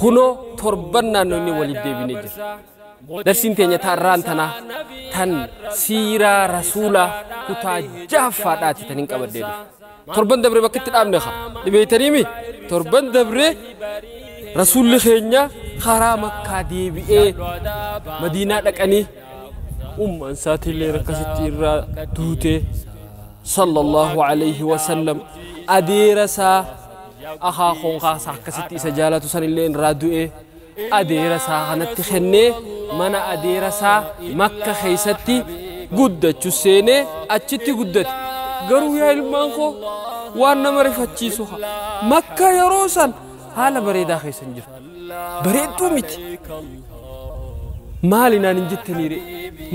Kunoo torban naannoonni waliif deebinee jira. Darsiin teenya taarraan tanaa tan siiraa rasuulaa kutaa jahaffaadhaati tan hin qabaddee dhufe. Torban dabre bakka itti dhaabne haa dhibeeytaniimi torban dabre rasuulli keenya karaa makkaa deebi'ee madiinaa dhaqanii ummaan isaatiillee rakkasitti irraa duutee sallallahu alayhi wasallam adeera isaa akhaa koon khaa sa akkasitti isa jaalatu sanillee irraa du'ee adeera isaa kanatti kennee mana adeera isaa makka keeysatti guddachu seenee achitti guddate garuu yaa ilmaan koo waan nama rifachiisu ha makka yeroo san haala bareedaa keessa hin jirtu bareedduu miti maali naan hin jettaniire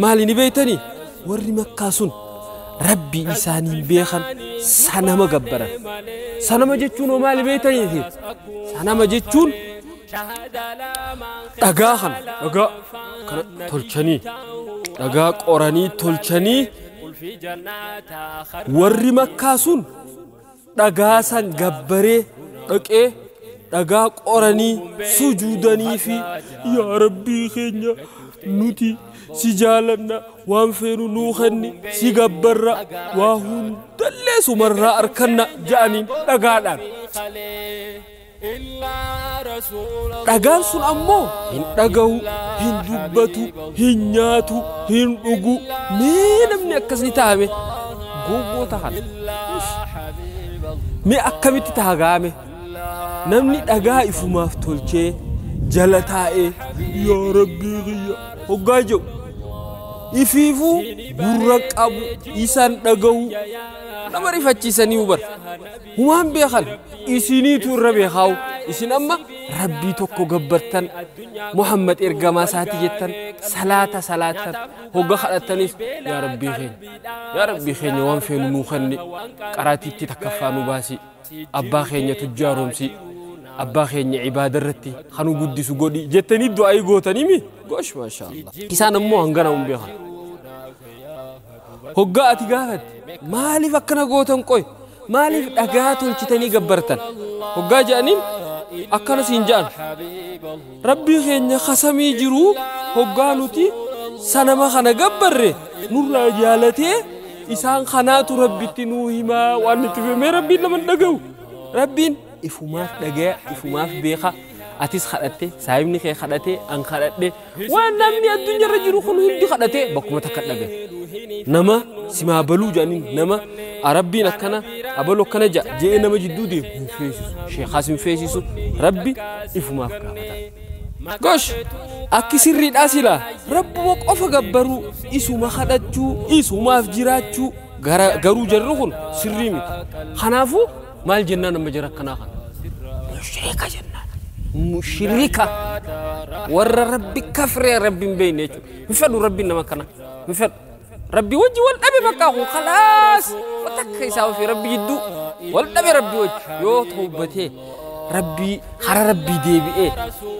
maali ni beeytanii Warri Makkaa sun Rabbii isaaniin beekan sanama gabbaran. Sanama jechuun hoo maali beektaniiti? Sanama jechuun dhagaa kana dhagaa kana tolchanii dhagaa qoranii tolchanii warri Makkaa sun dhagaa san gabbaree dhaqee dhagaa qoranii sujuudanii fi yaa rabbii keenya nuti si jaalanna waan feenu nuu kenni si gabbarra waa hundallee sumarraa arkanna ja'aniin dhagaadhaan Dhagaan sun ammoo hin dhagahu, hin dubbatu, hin nyaatu, hin dhugu. Mee namni akkas ni ta'a mee? Gowwoota kana. Ish. Mee akkamitti ta'a gaa mee? Namni dhagaa ifumaaf tolchee jala taa'ee yaa rabbii kiyya hoggaa jedhu ifiifuu gurra qabu isan dhagahu nama rifachiisanii hubar. Humaan beekan isiniitu irra beekaawu isin amma rabbii tokko gabbartan Muhammad ergamaa isaati jettan salaata salaattan hogga kadhattanis yaa rabbii keenya yaa rabbii keenya waan feenu nuu kenni qaraatiitti takkaffaa nu baasi abbaa keenya tujjaaromsi abbaa keenya ibaada irratti kanu guddisu godhi jettanii du'aa'ii gootanimi gosh maashaallah isaan ammoo hangana hin beekan Hoggaa ati gaafatte maaliif akkana gootan qoy maaliif dhagaa tolchitanii gabbartan hoggaa jedhaniin akkana siin jedhan rabbii keenya kasamii jiru hoggaa nuti sanama kana gabbarre nurraa jaalatee isaan kanaatu rabbitti nuu himaa waan nuti fimee rabbiin nama hin dhaga'u rabbiin ifumaaf dhagaya ifumaaf beeka atis kadhatte saahibni kee kadhate an kadhadhe Waan namni addunyaa irra jiru kun hundi kadhatee bakkuma takka dhabe. Nama simaa baluu jedhaniin nama Rabbiin akkana abalu akkana ja'a je'ee nama jidduu deemu hin feesisu. Sheekaas hin feesisu. Rabbi ifumaaf gaafata. Gosh! Akki sirriidhaa silaa rabbuma qofa gabbaruu isuma kadhachuu isumaaf jiraachuu garuu jarri kun sirrii miti. Kanaafuu Maal jennaan amma jara akkanaa kana? Mushrika jennaan. Mushrika warra rabbi kafree rabbi hin beekne jechuudha. Hin fedhu rabbiin nama kana. Hin fedhu. Rabbi wajji wal dhabe bakka kun khalaas takka isaa ofii rabbi jidduu wal dhabe rabbi wajji yoo tawbatee rabbii hara rabbii deebi'ee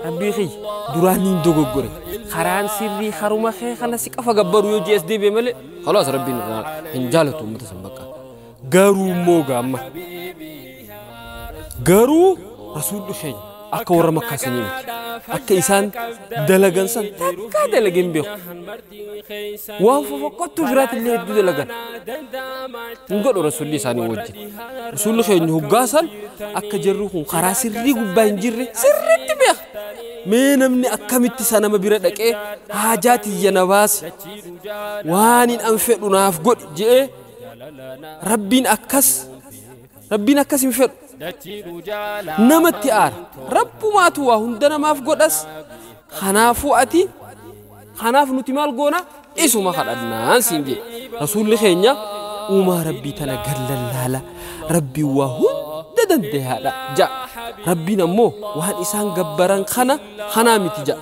rabbii kiyya duraan hin dogoggore karaan sirrii haruma kee kana si qafa gabbaru yoo jees deebi'e malee khalaas rabbiin irraa hin jaalatu uummata san bakka. Garuu immoo gaa amma garuu rasuulli keenya akka warra makkaa sanii miti akka isaan dalagan san takkaa dalage hin beeku waan fofokkottu biraatti illee hedduu dalagan hin godhu rasuulli isaanii wajjin rasuulli keenya hoggaa san akka jarri kun karaa sirrii gubbaa hin jirre sirriitti beeka mee namni akkamitti isa nama bira dhaqee haajaa tiyya na baasi waan hin an fedhu naaf godhi je'ee rabbiin akkas rabbiin akkas hin fedhu namatti aara rabbumaatu waa hunda namaaf godhas kanaafuu ati kanaaf nuti maal goona isuma kadhannaan siin jedhe rasuulli keenya uumaa rabbii tana gallallaala rabbiin waa hunda dandayaadha ja'a rabbiin ammoo waan isaan gabbaran kana kanaa miti ja'a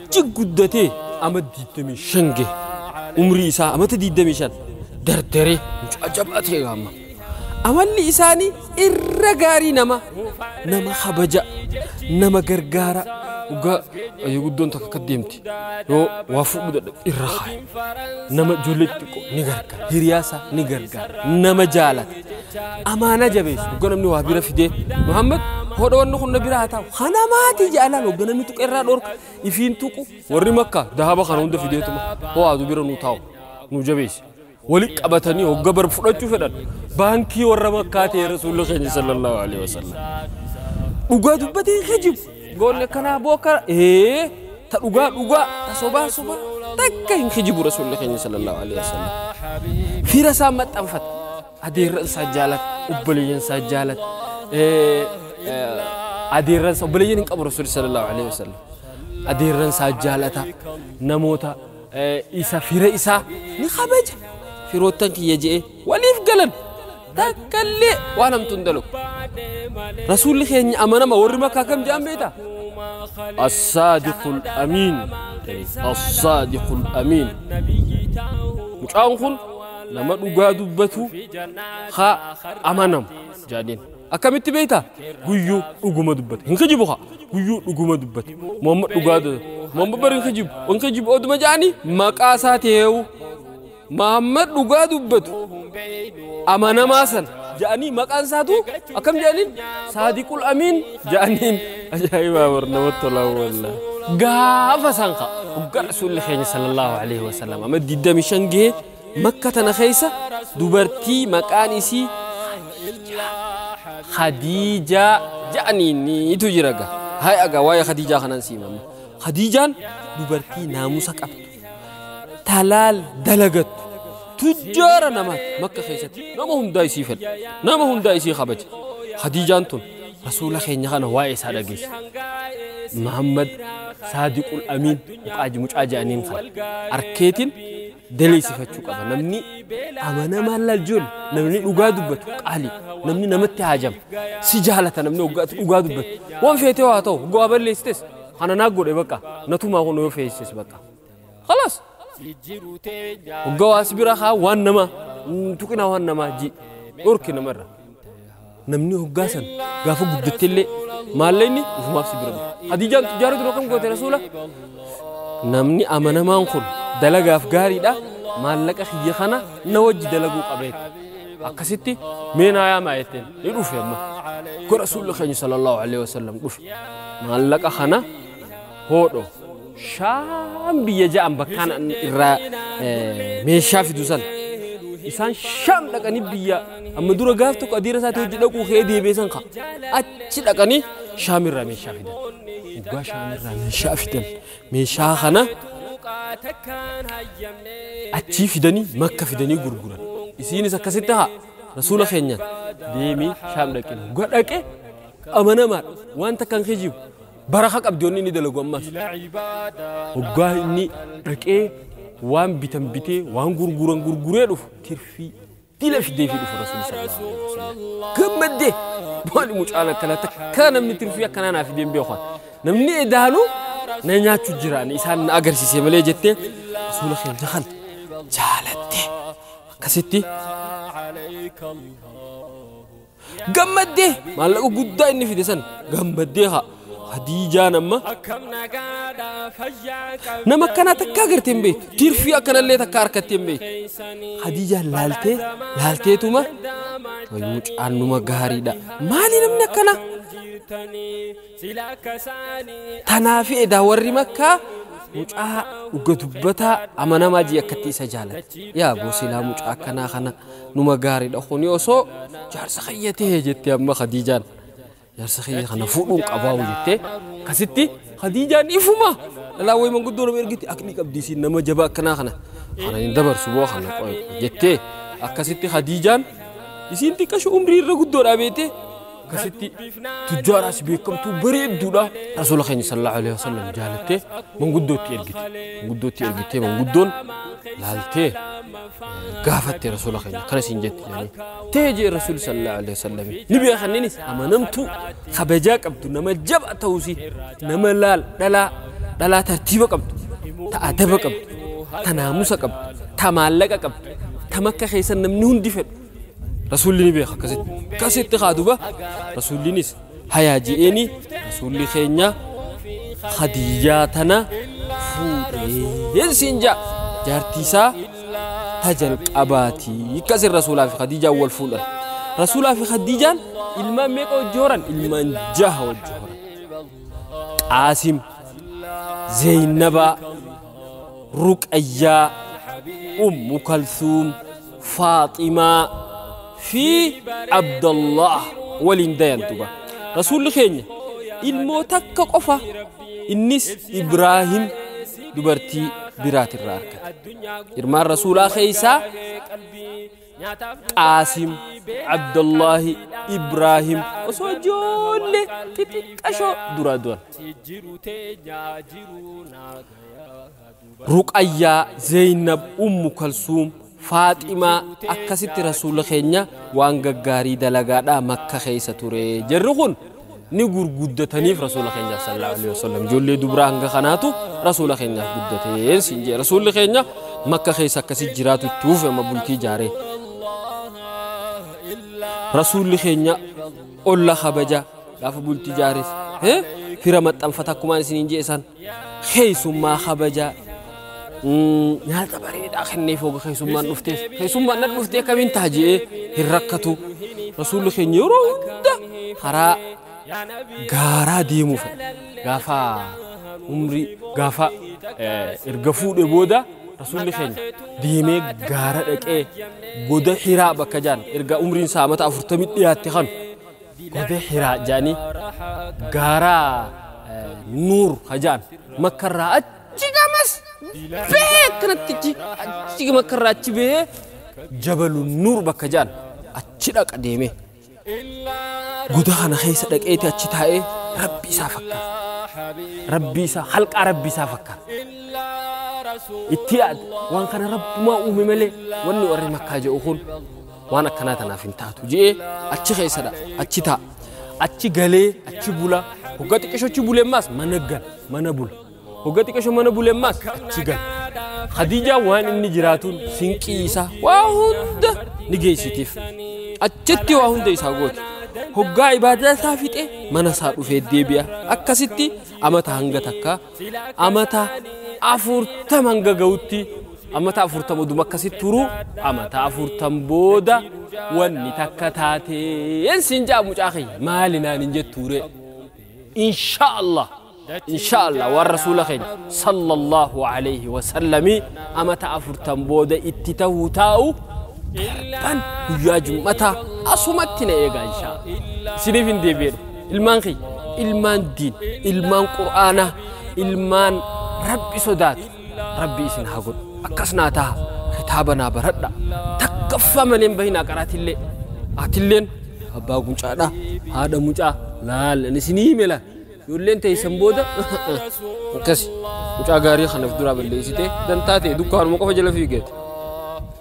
Cig guddatee ama 25 gahe. Umrii isaa amata 25 dardaree mucaa jabaa ta'e amma. Amalli isaanii irra gaarii nama nama habaja nama gargaara dhugaa yoo guddoon takka akka deemti yoo waa fuudhu dadhabe irra kaaya nama ijoollee xixiqqoo ni gargaara hiriyaa isaa ni gargaara nama jaalata amaanaa jabeessu hogga namni waa bira fidee muhammad hodha wanni kun na bira haa taa'u kana maati jaalaan hogga namni tuqe irraa dhorka ifiin tuqu warri makka dahaba kana hunda fideetuma hoo aadu bira nu taa'u nu jabeessi wali qabatanii hogga bar fudhachuu fedhan baankii warra makkaa ta'e rasuulli keenya sallallahu alaihi wasallam dhugaa dubbatee hin kijibu Goonni akkanaa boo akka ee ta dhugaa dhugaa ta sobaa sobaa takka hin kijibu rasuulli keenya sallallahu alaihi wasallam. Fira isaa maxxanfata. Adeerran isaa jaalata. Obboleeyyan isaa jaalata. Eh, eh, Adeerran isaa obboleeyyan hin qabu rasuulli sallallahu alaihi wasallam. Adeerran isaa jaalata. Namoota eh, isa fira isaa ni kabaja. Firoottan kiyya je'ee waliif galan takka illee waan hamtu hin dalagu rasuulli keenya amanama warri makkaa kam jedhan beekta assaadiqul amiin assaadiqul amiin mucaan kun nama dhugaa dubbatu haa amanamu jedhaniin akkamitti beekta guyyuu dhuguma dubbate hin kijibu haa guyyuu dhuguma dubbate muhammad dhugaa dubbate muhammad bari hin kijibu hin kijibu oduma jedhanii maqaa isaa ta'eewu Mahammad dhugaa dubbatu amanamaa sana ja'anii maqaan isaatu akkam ja'aniin saadiqul amiin ja'aniin ajaa'ibaa bar namatti tolaa wallah. Gaafa san ka hoggaa rasuulli keenya sallallahu alaihi wasallam amma 25 gahee makka tana keessa dubartii maqaan isii Khadiijaa ja'aniiniitu jira gaa. Hay agaa waa'ee Khadiijaa kanan siimamma. Khadiijaan dubartii naamusa qabdu. talaal dalagattu tujjaara namaati makka keessatti nama hundaa isii fedha nama hundaa isii kabaja khadiijaan tun rasuula keenya kana waa'ee isaa dhageesse muhammad saadiqul amiin muqaaji mucaa jedhaniin kana arkeetiin daleessifachuu qaba namni amanamaa lajjoon namni dhugaa dubbatu qaali namni namatti haajama si jaalata namni dhugaa dubbatu waan feetee waa ta'u dhugaa balleessites Kana naa godhe baqa natumaa kun yoo feesses baqa. Kalas. Hogga waa si bira haa waan namaa hin tuqinaa waan namaa ji dhorki namarra. Namni hoggaa san gaafa guddatte illee maallaqni ufumaaf si bira dhufa. Hadiijaan tujjaara dura kam goote rasuula? Namni amanamaan kun dalagaaf gaariidha maallaqa kiyya kana na wajji dalaguu qabeetta. Akkasitti mee naa yaamaa jetteen ni dhufe amma. Gara rasuulli keenya sallallahu alaihi wasallam dhufe. maallaqa kana hoodho shaam biyya ja'an bakkaan an irraa eh, meeshaa fidu san isaan shaam dhaqanii biyya amma dura gaaf tokko adiira isaati hojii dhaquu kee deebiisan ka achi dhaqanii shaam irraa meeshaa fidan dhugaa shaam irraa meeshaa fidan meeshaa kana achii fidanii makka fidanii gurguran isiinis akkasitti haa rasuula keenyaan deemii shaam dhaqin dhugaa dhaqe amanamaadha waan takka hin kijibu baraka qabdi wanni inni dalagu ammas hoggaa inni dhaqee waan bitan bitee waan gurguran gurguree dhufu tirfii dila fidee fi dhufu rasuulli sallallahu alaihi wasallam gammaddee maali mucaan akkana takka namni tirfii akkanaa naa fideen beekan namni edaanu na nyaachu jiraan isaan na agarsiise malee jettee rasuula keenya kan jaalatte akkasitti gammaddee maallaqa guddaa inni fide san gammaddee haa hadiijaan amma nama akkanaa takka agartee hin beektu tirfii akkanallee takka harkattee hin beektu hadiijaan laaltee laalteetuma wayyuu caannuma gaariidha maali namni akkanaa Tanaafi edaa warri makkaa mucaa dhuga dubbataa amanamaa jii akkatti isa jaalatti. Yaa boo silaa mucaa akkanaa kana numa gaariidha kuni osoo jaarsa kiyya ta'e jette amma Khadiijaan. Jaarsa kiyya kana fuudhuun qabaa jette. Akkasitti Khadiijaan ifuma dhalaa wayii manguddoo nama ergiti akni qabdi isiin nama jabaa akkanaa kana. Kana hin dabarsu boo kana qoy jettee akkasitti Khadiijaan isiin xiqqashu umrii irra guddoodhaa beektee akkasitti tujjaaraas beekamtuu bareedduudha rasuula keenya sallallahu alaihi wasallam jaalattee manguddootti ergite manguddootti ergitee manguddoon laaltee gaafatte rasuula keenya akkana siin jette jedhanii tee jee rasuuli sallallahu alaihi wasallam ni beekanninis amanamtuu kabajaa qabdu nama jaba ta'uusi nama laal dhalaa dhalaa tartiiba qabdu ta adaba qabdu ta naamusa qabdu ta maallaqa qabdu ta makka keessa namni hundi fedhu Rasuulli ni beeka akkasitti. Akkasitti kaa duba Rasuullinis hayaa ji'eeni Rasuulli keenya Khadiyyaa tana fuudhee siin ja'a. Jaartiisaa ta jalqabaati. Akkasiin Rasuulaa fi Khadiijaan wal fuudhan. Rasuulaa fi Khadiijaan ilmaan meeqa wajji horan? Ilmaan jaha wajji horan. Qaasim, Zeeynabaa, Ruqayyaa, Ummu Kalsuum. faaximaa fi abdallah waliin dayan duba rasuulli keenya ilmoo takka qofa innis ibraahim dubartii biraatirraa argate ilmaan rasuulaa keeysaa qaasim abdallahi ibraahim osoo ijoollee xixiqqashoo duraa duran Ruqayyaa, Zeeynab, Ummu Kalsuum, Faaximaa akkasitti Rasuulli keenya waan gaggaarii dalagaadhaa Makka keessa ture. Jarri kun ni gurguddataniif Rasuula keenyaaf sallallahu alaihi wasallam. Ijoollee dubraa hanga kanaatu Rasuula keenyaaf guddateen siin jee. Rasuulli keenya Makka keessa akkasi jiraatu itti fufe amma bultii jaaree. Rasuulli keenya olla kabaja gaafa bultii jaares. Fira maxxanfata akkumaan isiniin jee isaan. keessummaa kabajaa nyaata bareedaa kenneef hoga keessummaan dhufteef keessummaan na dhuftee akkamiin ta'a je'ee hin rakkatu rasuulli keenya yeroo hunda karaa gaaraa deemuu fedha gaafa umrii gaafa erga fuudhe booda rasuulli keenya deemee gaara dhaqee goda hiraa bakka jaan erga umriin isaa amata afurtamii dhiyaatte kanu Godee Hiraa jedhanii gaara Nuur ka jedhan makkarraa achi gamas bahee akkanatti achi achi makkarraa achi bahee jabalu Nuur bakka jedhan achi dhaqa deemee goda kana keessa dhaqeeti achi taa'ee rabbi isaa fakkaata. Rabbi isaa halqaa rabbi isaa fakkaata. Itti yaad waan kana rabbumaa uume malee wanni warri makkaa jedhu kun waan akkanaa tanaaf hin taatu je'ee achi keessadha achi taa'a. Achi galee achi bula hogga xiqqisho achi bule ammaas mana gala mana bula hogga xiqqisho mana bule ammaas achi gala. Khadiijaan waan inni jiraatuun sinqii isaa waa hunda ni geessitiif. Achitti waa hunda isaa gooti. Hoggaa ibaadaa isaa fixee mana isaa dhufee deebi'a. Akkasitti amata hanga takkaa amata afurtam hanga ga'utti amata afurtam oduma akkasi turu amata afurtam booda wanni takka taateen siin ja'a mucaa kiyya maali naan hin jettuure insha allah insha allah waan rasuula keenya sallallahu alayhi wasallami amata afurtam booda itti ta'uu taa'u darban guyyaa jum'ataa asumatti na eegaa insha allah isiniif hin deebi'edha Ilmaan kiyya, ilmaan diin, ilmaan qur'aanaa, ilmaan rabbi sodaatu, rabbi isin haa godhu. Akkas naa taha, kitaaba naa baradha, takkaffaa malee hin bahinaa qaraatillee. Atilleen abbaa gucaadha, haadha mucaa, laal, ani isinii hime laal. Ijoolleen teessan booda akkasi. Mucaa gaarii kanaaf duraa balleessitee dantaa ta'e dukkaanuma qofa jala fiigeeti.